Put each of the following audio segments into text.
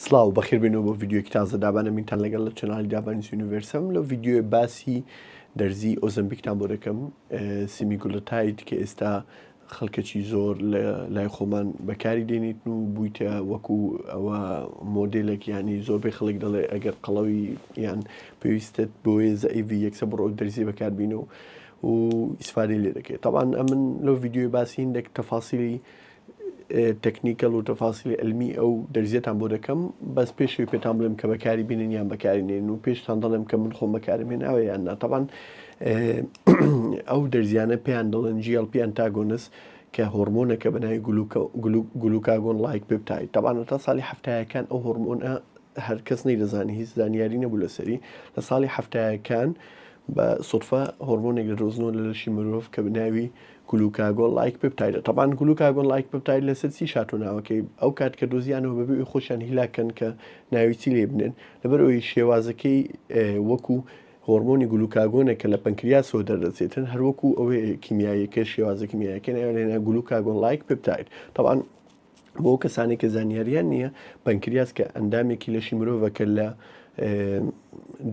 سڵاو بەخێربێنەوە بۆ ڤیدیۆیەکی تازە دابانە مینتان لەگەڵ لە چەنالی دابانیز یونیڤەرسەم لەو ڤیدیۆی باسی دەرزی ئۆزەمبیکتان بۆ دەکەم سیمی گولەتایت کە ئێستا خەڵکەکی زۆر لە لای خۆمان بەکاری دێنیتن و بوویتە وەکو ئەوە مۆدلێک ینی زۆربەی خەڵک دەڵێ ئەگەر قەڵەوی یان پێویستت بۆیە زئیV یەکسە بڕۆ دەرزی بەکاربینەوە و ئیسفادی لێ دەکەێت تاوان ئەمن لەو ڤیددیوی باسیین دەک تەفاسیلی تەکنیکەل و تەفاسیلی علمی ئەو دەرزیەتان بۆ دەکەم بەس پێشەوی پێتان بڵێم کە بەکاری بینن یان بەکاری نێن و پێشتان دەڵێم کە من خۆم بەکارم هێناوە یان ناتەبان ئەو دەرزیانە پێیان دەڵێن جیڵ پیان تاگۆنس کە هۆرمۆنەکە بەناوی گلوکاگۆن لایک پێپتای تەبانە تا ساڵی هەفتایەکان ئەو هۆرمۆنە هەر کەس نەی دەزانانی هیچ زانیاری نەبوو لەسەری لە ساڵی هەفتایەکان بە سوفە هۆرمۆنێک لە دۆزنەوە لە لەشی مرۆڤ کە بناوی گلوکا گۆڵ ڵایک ببتایدە. تەبان گلوکا گۆڵ ڵایک ببتاید لەسەر چیش هاتوە ناوەکەی ئەو کات کە دۆزیانەوە بەبێ ئەوی خۆشیان هیلاک کەن کە ناوی چی لێ بنێن لەبەر ئەوی شێوازەکەی وەکو هۆرمۆنی گلوکاگۆنە کە لە پەنکریاسەوە دەردەچێتن هەروەکو ئەوەیە کیمیاییەکە شێوازە کیمیایەکە ناوێنە گلوکا گۆڵ ڵایک ببتاید تەبان بۆ ئەو کەسانێک کە زانیاریان نییە پەنکریاس کە ئەندامێکی لەشی مرۆڤە کە لە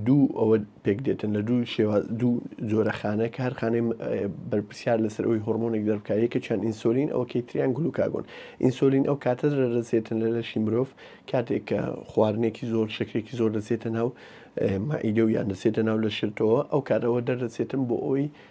دوو ئەوە پێک دێتن لە دوو شێوا دوو جۆرەخانە کە هەر خانەی بەرپسیار لەسەر ئەوی هۆرمۆنێک دەربکایە کە چەند ئینسۆلین ئەوکەی تریان گلوکاگۆن ئینسۆلین ئەو کاتە دەرەسێتن لە لەشی مرۆڤ کاتێک کە خواردنێکی زۆر شکرێکی زۆر دەسێتە ناو مەعیدە و یان دەسێتە ناو لە شرتەوە ئەو کاتەوە دەردەسێتن بۆ ئەوی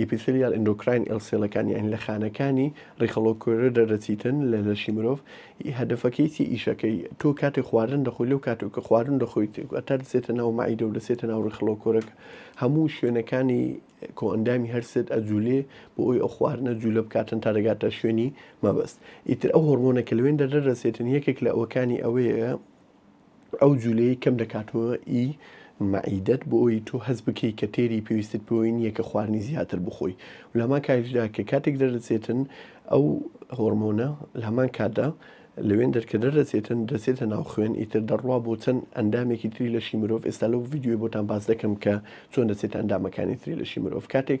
ئیپیسیلیال ئەندۆکراین ئێڵ سێڵەکان یان لە خانەکانی ڕیخەڵۆک کۆێرە دەردەچیتن لە لەشی مرۆڤ ئی هەدەفەکەی چی ئیشەکەی تۆ کاتێ خواردن دەخۆی لەو کاتێک کە خواردن دەخۆیت ئەتا دەچێتە ناو مەعیدە و دەچێتە ناو ڕیخەڵۆک کۆرەکە هەموو شوێنەکانی کۆئەندامی هەرسێت ئەجولێ بۆ ئەوی ئەو خواردنە جوولە بکاتن تا دەگاتە شوێنی مەبەست ئیتر ئەو هۆرمۆنە کە لەوێن دەردەدەچێتن یەکێک لە ئەوەکانی ئەوەیە ئەو جولەیەی کەم دەکاتەوە ئی مەعیدەت بۆ ئەوەی تۆ هەست بکەی کە تێری پێویستت پێوەی نییە کە خواردنی زیاتر بخۆی و لە هەمان کاتیشدا کە کاتێک دەردەچێتن ئەو هۆرمۆنە لە هەمان کاتدا لەوێن دەرکە دەردەچێتن دەچێتە ناو خوێن ئیتر دەڕوا بۆ چەند ئەندامێکی تری لەشی مرۆڤ ئێستا لەو ڤیدیۆی بۆتان باس دەکەم کە چۆن دەچێتە ئەندامەکانی تری لەشی مرۆڤ کاتێک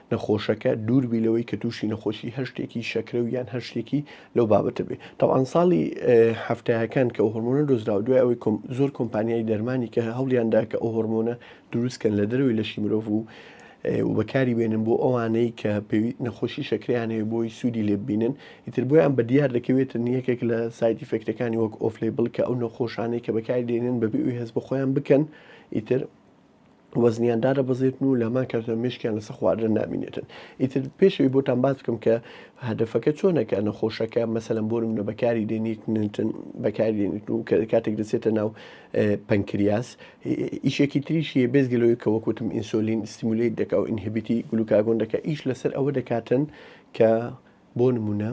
نەخۆشەکە دوور بی لەوەی کە تووشی نەخۆشی هەشتێکی شەکرە و یان هەشتێکی لەو بابەتە بێ تاوان ساڵی هەفتایەکان کە هۆرمۆنە دۆزراوە دوای ئەوەی زۆر کۆمپانیای دەرمانی کە هەوڵیاندا کە ئەو هۆرمۆنە دروستکەن لە دەروی لەشی مرۆڤ و و بەکاری بێنن بۆ ئەوانەی کە پێوی نەخۆشی شەکریانەیە بۆی سوودی لێببینن ئیتر بۆیان بە دیار دەکەوێت نیەکێک لە سایتی فێکتەکانی وەک ئۆفلی بڵکە ئەو نەخۆشانەی کە بەکاری دێنن بەبیوی هەست بە خۆیان بکەن ئیتر وەزنیان دادەبەزێتن و لامان کاتە مشکیان لەسە خواردن نامینێتن ئیتر پێشەوەی بۆتان باز بکەم کە هەدفەکە چۆنەکە نەخۆشەکە مەسەلم بۆ منە بەکاری دێنیتن بەکاری دێنیت و کە کاتێک دەچێتە ناو پەنکریاس ئیشێکی تریشی بێزگەلەوەی کە وەکوتم ئینسۆلین سیمولیت دەکا و ئینهبیتی گلوکاگۆن دەکە ئیش لەسەر ئەوە دەکاتن کە بۆ نموونە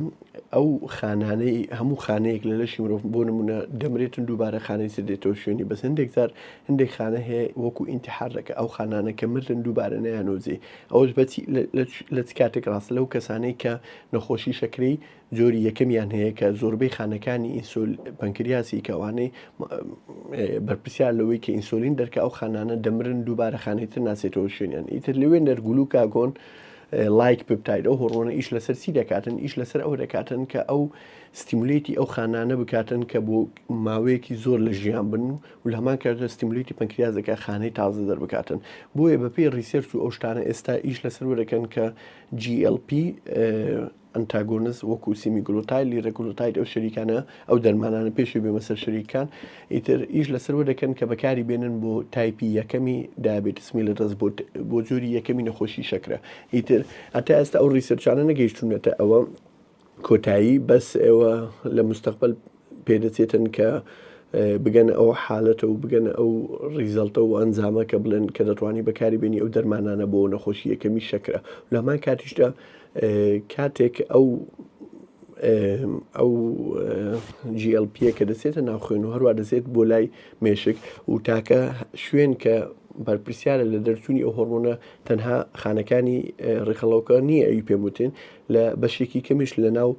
ئەو خانانەی هەموو خانەیەک لە لەشی مرۆڤ بۆ نمونە دەمرێتن دووبارە خانەی سر دێتەوە شوێنی بەس هەندێک زار هەندێک خانە هەیە وەکو ئینتحار دەکە ئەو خانانە کە مردن دووبارە نیانۆزی ئەوش بەچی لە چ کاتێک ڕاست لەو کەسانەی کە نەخۆشی شەکری جۆری یەکەمیان هەیە کە زۆربەی خانەکانی ئینسۆل پەنکریاسی کەوانەی بەرپسیار لەوەی کە ئینسۆلین دەرکە ئەو خانانە دەمرن دووبارە خانێتر ناسێتەوە شوێنیان ئیتر لەوێ نەرگولو کاگۆن لایک ببتایت ئەو هۆڕۆنە ئیش لەسەر چی دەکاتن ئیش لەسەر ئەوە دەکاتن کە ئەو ستیمولیتی ئەو خانانە بکاتن کە بۆ ماوەیەکی زۆر لە ژیان بن و و لە هەمان کاتدا ستیمولیتی پەنکریازەکە خانەی تازە دەربکاتن بۆیە بەپێی ریسێرچ و ئەو شتانە ئێستا ئیش لەسەر وەرەکەن کە GLP ئەنتاگۆنست وەکو سیمیگلۆتایل لیرەگلۆتایت ئەو شەریکانە ئەو دەرمانانە پێشوی بێمە سەر شەریکان ئیتر ئیش لەسەروە دەکەن کە بەکاری بێنن بۆ تایپی یەکەمی دایابێتس میلتەس بۆ بۆ جۆری یەکەمی نەخۆشی شەکرە ئیتر هەتا ئێستا ئەو ڕیسەرچانە نەگەیشتونەتە ئەوە کۆتایی بەس ئێوە لە مستەقبل پێدەچێتن کە بگەنە ئەو حالەتە و بگەنە ئەو ڕیزەڵتە و ئەنجامە کە بڵێن کە دەتوانانی بەکاری بێنی ئەو دەرمانانە بۆ نەخۆشی یەکەمی شەکرە لەمان کاتیشدا کاتێک ئەو ئەو جیLPە کە دەچێتە ناوخێن و هەروە دەچێت بۆ لای مێشک و تاکە شوێن کە بەرپرسیارە لە دەرچوونی ئەو هۆرمۆنە تەنها خانەکانی ڕێکخەڵەوەکە نییە ئەوی پێموتین لە بەشێکی کەمیش لە ناو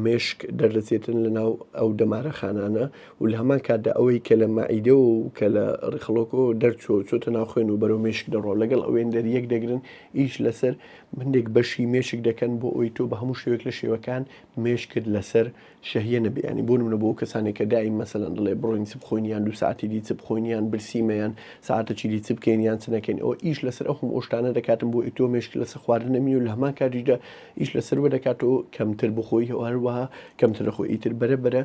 مێشک دەردەچێتن لە ناو ئەو دەمارە خانانە و لە هەمان کاتدا ئەوەی کە لە مەعیدە و کە لە ڕیخڵۆکۆ دەرچۆ چۆتە ناوخێن و بەرەو مێشک دەڕۆ لەگەڵ ئەوێن دەر یەک دەگرن ئیش لەسەر هەندێک بەشی مێشک دەکەن بۆ ئەوی تۆ بە هەموو شێوەیەک لە شێوەکان مێشکت لەسەر شەهیە نەبێ ینی بۆ منە بۆ کەسانێک کە دایم مەسەلەن دڵێ بڕۆین چ بخۆینیان دو ساعتی دی چ بخۆینیان برسیمەیان ساعتە چیدی چ بکەین یان چ نەکەین ئەوە ئیش لەسەر ئەو هەموو ئەو شتانە دەکاتن بۆ ئەی تۆ مێشک لەسەر خواردنە بی و لە هەمان کاتیشدا ئیش لەسەر وە دەکات تۆ کەمتر بخۆی هەروەها کەمتر لە خۆی ئیتر بەرە بەرە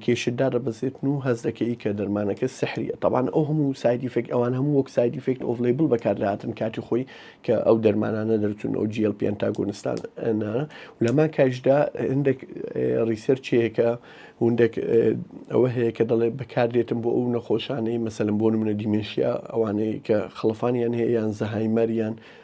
کێشت دادەبەزێت و هەز دەکەی کە دەرمانەکە سحریە تاوان ئەو هەموو سایدیفێک ئەوان هەموو وەک سایدیفێکت ئۆف لەیبل بەکار لەهاتن کاتی خۆی کە ئەو دەرمانانە دەرچون ئەو جیل پێن تا گۆنستان لەمان کاشدا هەندێک ڕیسەرچەیەکە هەندێک ئەوە هەیە کە دەڵێ بەکاردێتم بۆ ئەو نەخۆشانەی مەسەلم بۆ منە دیمنشیا ئەوانەیە کە خڵفانیان هەیە یان زەهایمەریان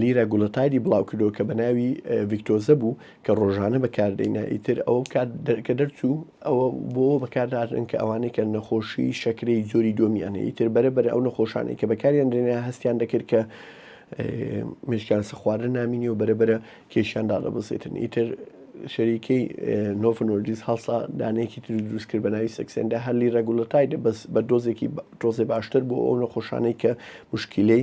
لیرا گولۆتایدی بڵاوکردەوە کە بەناوی ڤیکتۆزە بوو کە ڕۆژانە بەکاردەینا ئیتر ئەوە کات کە دەرچوو ئەوە بۆ بەکاردارن کە ئەوانەی کە نەخۆشی شەکرەی جۆری دووەمیان هەیە ئیتر بەرە بەرە ئەو نەخۆشانەی کە بەکاریان درێنە هەستیان دەکرد کە مشکیان سەخوارە نامینی و بەرە بەرە کێشیان دادەبزێتن ئیتر شەریکەی نۆفنۆرجیز هەڵسا دانەیەکی تر دروست کرد بەناوی سەکسێندا هەرلی ڕگولەتایدە بەس بە دۆزێکی تۆزێ باشتر بۆ ئەو نەخۆشانەی کە مشکلەی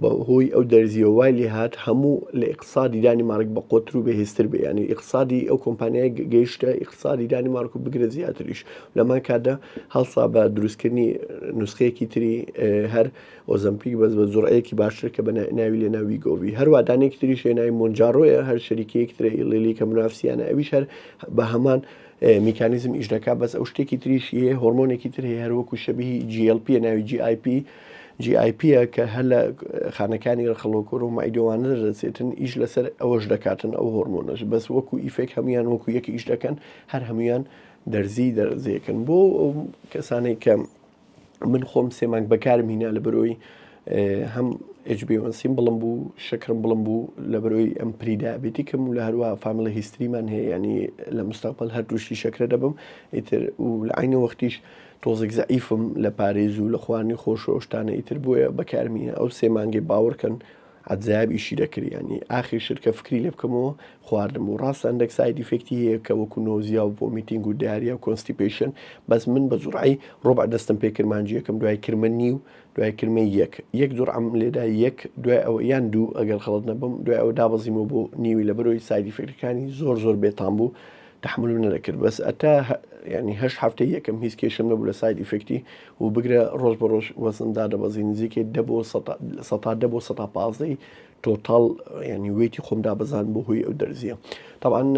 بە هۆی ئەو دەرزییەوە وای لێ هات هەموو لە ئیقتسادی دانیمارک بە قۆتر و بە هێزتر بێ یانی ئیقتسادی ئەو کۆمپانیای گەیشتە ئیقتسادی دانیمارک و بگرە زیاتریش لەمان کاتدا هەڵسا بە دروستکردنی نوسخەیەکی تری هەر ئۆزمپیک بەس بە زوڕەیەکی باشتر کە بە ناوی لێ ناوی گۆوی هەروادانێکی تریش لێ ناوی مونجاڕۆیە هەر شەریکەیەک ترە ئیڵێلی کە منافسیانە ئەویش هەر بە هەمان میکانیزم ئیش دەکات بەس ئەو شتێکی تریش هەیە هۆرمۆنێکی تر هەیە هەروەکو شەبیهی GLP ناوی GIP جی ئای پی ە کە هەر لە خانەکانی ڕخڵۆکۆر و مایدۆوانە دەردەچێتن ئیش لەسەر ئەوەش دەکاتن ئەو هۆرمۆنەش بەس وەکو ئیفێک هەموان وەکو یەک ئیش دەکەن هەر هەموان دەرزی دەرزیەکەن بۆ ئەو کەسانێک کە من خۆم سێمانگ بەکارم هینا لە بەرۆی هەم ئەجبیوەنسیم بڵم بوو شکرم بڵم بوو لە بەرۆی ئەم پریدابێتیکم و لە هەروە فاملە هیستریمان هەیە ینی لە مستەقبل هەر تووشی شەکرە دەبم ئیتر و لە عینە وەختیش تۆزێک زەعیفم لە پارێز و لە خواردنی خۆش و ئەو شتانە ئیتر بۆیە بەکارم هینە ئەو سێ مانگەی باوەڕکەن عەزاب ئیشی دەکرد یانی ئاخیر شت کە فکری لێ بکەمەوە خواردن بوو ڕاستە هەندێک ساید ئیفێکتی هەیە کە وەکو نۆزیا و ڤۆمیتینگ و داریا و کۆنستیپەیشن بەس من بە جوڕعی ڕۆبع دەستم پێ کرد مانگی یەکەم دوای کرمە نیو دوای کرمە یەک یەک جوڕعم لێدا یەک دوای ئەوە یان دوو ئەگەر خەڵەت نەبم دوای ئەوە دابەزیمەوە بۆ نیوی لەبەرەوەی ساید ئیفێکتەکانی زۆر زۆر بێتام بوو تەحمولم نەدەکرد بەس ئەتا یانی هەشت هەفتەی یەکەم هیچ کێشەم نەبوو لە ساید ئیفێکتی و بگرە ڕۆژ بە ڕۆژ وەزنم دادەبەزی نزیکەی دە بۆ سەتا دە بۆ سەتا پازدەی تۆتاڵ ینی وێتی خۆم دابەزان بۆ هۆی ئەو دەرزیە تاوان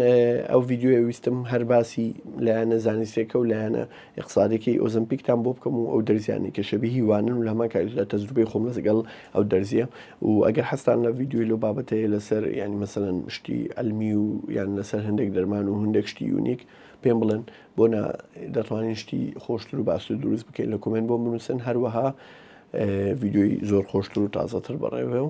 ئەو ڤیددیوە ویستم هەر باسی لایەنە زانستێکە و لایەنە ئیقسادیەکەی ئۆزەمپیکتان بۆ بکەم و ئەو دەرزیانەی کە شەبیهی وانن و لە هەمان کاتیشدا تەجروبەی خۆم لەگەڵ ئەو دەرزیە و ئەگەر حەزتان لە ڤیدیۆی لەو بابەتە هەیە لەسەر یانی مەسەلەن شتی عەلمی و یان لەسەر هەندێک دەرمان و هەندێک شتی یونیک پێم بڵێن بۆ نا دەتوانین شتی خۆشتر و باشتر دروست بکەین لە کۆمێنت بۆم بنووسن هەروەها ڤیدیۆی زۆر خۆشتر و تازەتر بەڕێوێ و